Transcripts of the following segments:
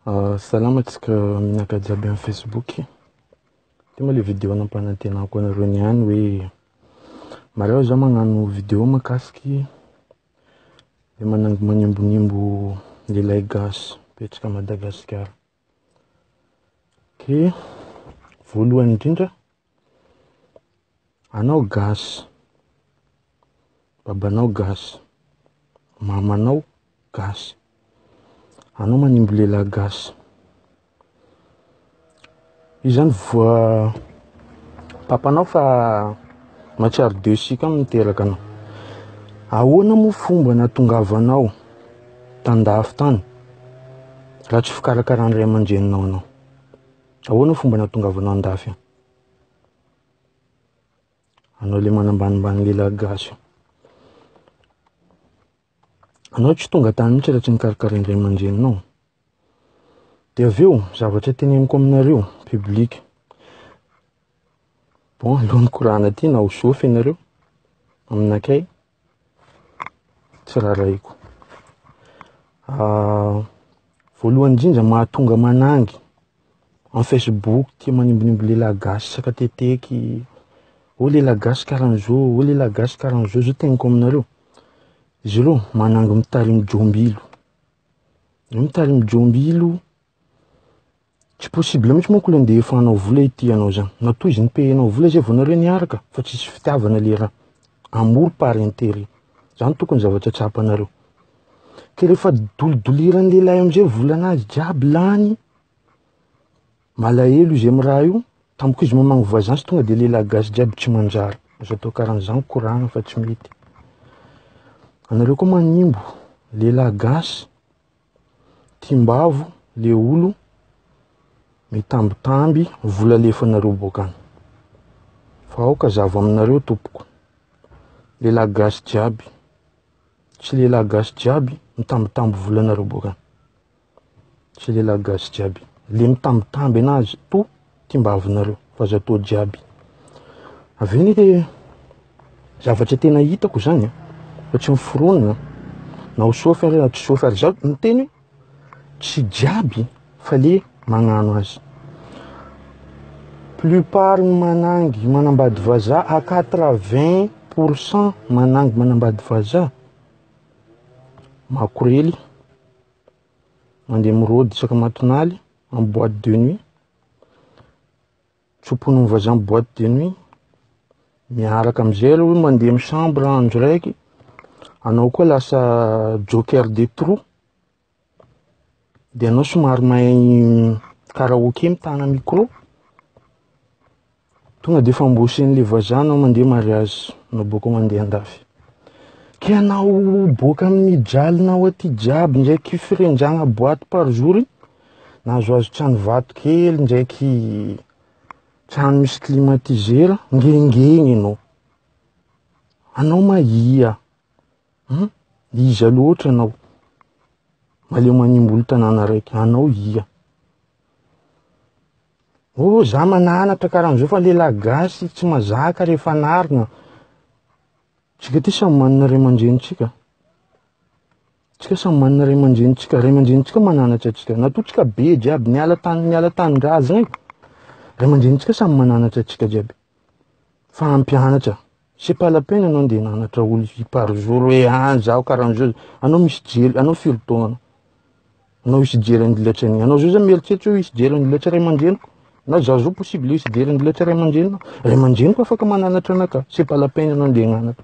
Ah, salama antsika menaka jiaby amin'ny facebook e, ity moa le video nampanantenako anareo niany hoe mareo za magnano video mahakasiky le manambonimbonimbo lehilahy gasy mipetraka Madagasikara. Dia voalohany indrindra, anao gasy, babanao gasy, mamanao gasy, anao manimby lehilahy gasy. Io zany voa papanao fa mahatsiaro deux cycle no niteraka anao. Ahoana moa fomba natongavanao tan-dafy tany raha tsy fikarakaran'ny ray aman-dreninao anao? Ahoana fomba natongavanao an-dafy any? Anao le manambanimbany lehilahy gasy io. Anao tsy tonga tany mihitsy raha tsy nikarakarain'ny ray aman-dreninao. Dia avy eo, zavatra teneniko aminareo, public. Bon, aleo mikorana aty na ho zofy ianareo, aminakay, tsy rarahiko. Ah, voalohany indrindra mahatonga manangy En Facebook tia manimbinimby lehilahy gasy isaka teteky, oh lehilahy gasy karaha an'izao, oh lehilahy gasy karaha an'izao, izao teneniko aminareo, izy ireo manangy mitarimo jiombilo, ny mitarimo jiombilo, tsy possible mihintsy manko ilay ndeha efa hanao vola ity ianao izany, matoa izy mi-paye anao vola izay vao nareo niaraka fa tsisy fitiavana ilay raha, amour par interet, izany tokony zavatra tsapanareo. Ka rehefa dolidoliran'ny lehilahy amin'izay ny volanazy jiaby lany, malahelo izy amin'ny raha io, tampoka izy mamangy voisin sy tonga dia lehilahy gasy jiaby tsy manjary. Aza atao karan'izany, koragna fa tsy mety. Anareo koa manimbo lehilahy gasy, tiam-bavo, le olo, mitambitamby, vola alefanareo boaka any. Fa aoka zava aminareo tompoko, lehilahy gasy jiaby. Tsy lehilahy gasy jiaby mitambitamby vola nareo boka Tsy lehilahy gasy jiaby Le mitambitamby anazy to timbavinareo fa zato jiaby Avy eo nefa e Zavatra tena hitako zany fa tsy miforonina Na ho sôfy ary na tsy sôfy ary zaho miteny Tsy jiaby fa le magnano azy. Plus part ny manangy manambady vazaha à quatre vingt pour cent manangy manambady vazaha, makorely, mandeha mirôdy isaka matonaly en boite de nuit. Tsoponin'ny voisin boîte de nuit. Miaraka amin'izay aloha mandeha amin'ny chambre andro raiky. Anao koa lasa joker de trou. Dia anao somary mahay karaoke mitana micro. Tonga dia efa amboasen'ilay voisin anao mandeha mariage na boaka mandeha andafy. Ka anao boaka amin'ny jalinao aty jiaby ndraiky firenjagna boîte par jour. nahazoazo trano vato kely ndraiky trano misy climatiseur ngengeny ianao anao ma ia hmm? iza loatra anao maleo manimbolo tanàna raiky anao ia o oh, za mananatra karan'izao fa lehilahy gasy tsy mazaka rehefa narina tsika ty samy manana ray aman-drenintsika Tsika samy manana ray aman-dreny tsika, ray aman-dreny tsika mananatra antsika, natoa tsika be jiaby, niala tany niala tanindrazana e, ray aman-dreny tsika samy mananatra antsika jiaby, fa hampianatra, c'est pas la peine anao ndeha nanatra olo par jour hoe an zaho karaha zao, anao misy jery, anao firy taona anao, anao hisy jery andilatry an'igny, anao zao zany mieritreritra hoe hisy jery andilatry ray aman-dreniko, na zaho zao possible hisy jery andilatry ray aman-drenina, ray aman-dreniko afaka mananatra anakahy, c'est pas la peine anao ndeha hananatra.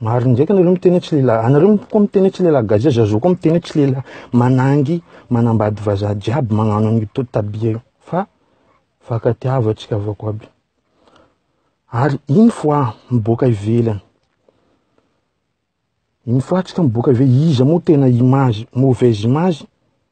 Marina ndraika nareo miteny hoe tsy lehilahy. Anareo koa miteny hoe tsy lehilahy gasy zay zazo koa miteny hoe tsy lehilahy. Manangy, manambady vazaha jiaby magnano an'io to tabia io. Fa vaka tiavo atsika avako aby. Ary une fois miboaka ivelany, une fois atsika miboaka ivelany, iza moa tena image, mauvaise image,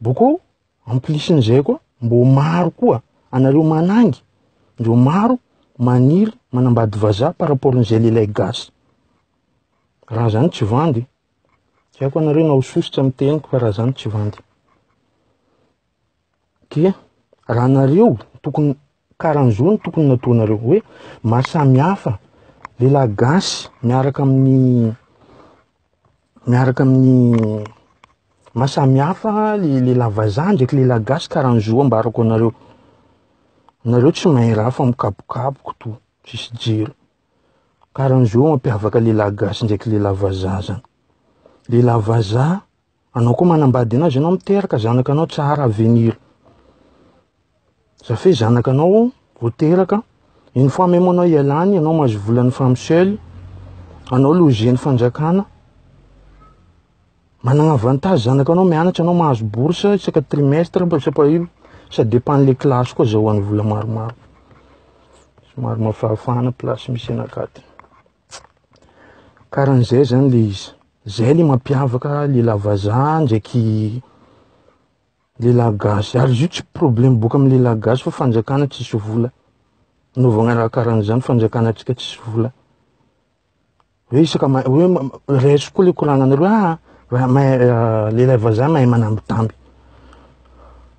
Boko en plus n'izay koa mbô maro koa anareo manangy ndreo maro maniry manambady vazaha par rapport n'izay lehilahy gasy. Raha zany tsy vandy. Tsy haiko anareo na ho sosotra amin'ny teniko fa raha zany tsy vandy. Ke raha anareo tokony Karanzho no tokony natoanareo hoe maha samy hafa lehilahy gasy miaraka amin'ny miaraka amin'ny maha samy hafa le lehilahy vazaha ndraiky lehilahy gasy karanzho ambarako anareo. Nareo tsy mahay raha fa mikapokapoky to tsisy jiro. Karanzho mampiavaka lehilahy gasy ndraiky lehilahy vazaha zany. Lehilahy vazaha Anao koa manambady anazy anao miteraka zanaka anao tsara avenir zafe zanaka anao voteraka une fois même anao ialany anao mahazo volan'ny femme seule anao logen'ny fanjakana manana avantage zanaka anao mianatra anao mahazo bourse isaka trimestre mba sapa io ça dépend le classe koa zahoan'ny vola maromaro somary mafahafahana place misy anakaty Karan'izay zany le izy. Zay le mampiavaka lehilahy vazaha ndraiky lehilahy gasy. Ary izy io tsy problème boka amin'ny lehilahy gasy fa fanjakana tsisy vola. Anaovana raha karan'izany fanjakana antsika tsisy vola. Hoe isaka ma- hoe ma- raiso koa le koragnanareo ah, raha mahay lehilahy vazaha mahay manambitamby.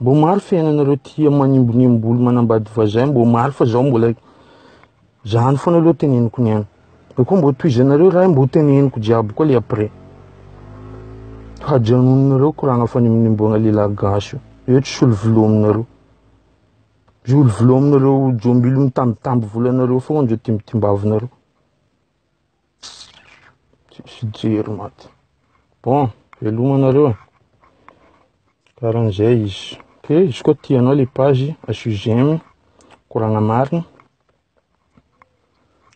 Mba omaly fiainanareo tia manimbonimbo olo manambady vazay, mba omaly fa zao mbola zany foana aloha teneniko niany. Eo koa mba tohizanareo raha mba teneniko jiaby koa le après. Hajanonareo koragna fanimonimbogna lehilahy gasy io. Eo tsy solo volo aminareo. Zolo volo aminareo jombilo mitambitamby volanareo foana zao timbitimbavinareo. Tsisy jery maty. Bon, veloma nareo e. Karan'izay izy. Ok, izy koa tianao le page asio j'aime, koragna marina.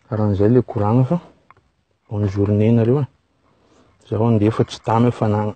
Karan'izay le koragna fa bonne journée nareo e. Zaho andeha fa tsy tamy hafanagna.